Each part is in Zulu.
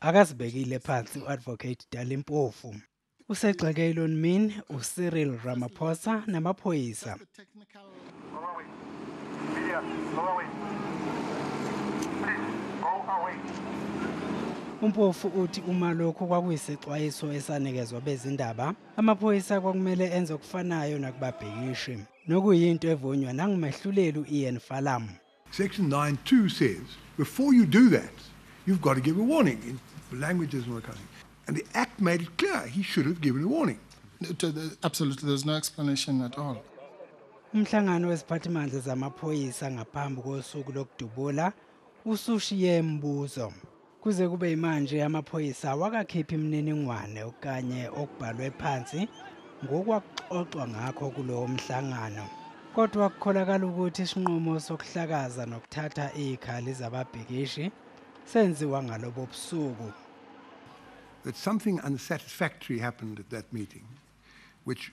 Akasibekile phansi uAdvocate Dalimpofu. Usegxeke Elon Min, uCyril Ramaphosa namaphoyisa. Umpofu uthi uma lokhu kwakuyisexwayiso esanikezwa bezindaba Amaphoyisa kwakumele enze okufanayo nakubabhikishi, nokuyinto evunywa nangumehluleli u-Ian Falam. Section 9.2 says, before you do that, you've got to give a warning. In language is not coming. And the Act made it clear he should have given a warning. Uh, absolutely, there's no explanation at all. Umhlangano weziphathimandla zamaphoyisa ngaphambi kosuku lokudubula usushiye imibuzo. Kuze kube yimanje amaphoyisa awakakhiphi imininingwane okanye okubhalwe phansi ngokwakuxoxwa ngakho kulowo mhlangano. Kodwa kukholakala ukuthi isinqumo sokuhlakaza nokuthatha izikhali zababhikishi senziwa ngalobo busuku. That something unsatisfactory happened at that meeting which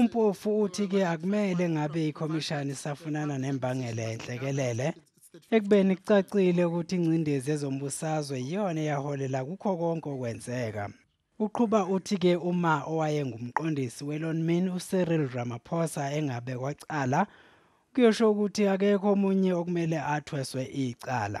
Umpofu uthi ke akumele ngabe ikhomishana isafunana nembangela enhlekelele ekubeni kucacile ukuthi ingcindezi ezombusazwe iyona eyaholela kukho konke okwenzeka. Uqhuba uthi ke uma owayengumqondisi weLonmin uCyril Ramaphosa engabe kwacala kuyosho ukuthi akekho omunye okumele athweswe icala.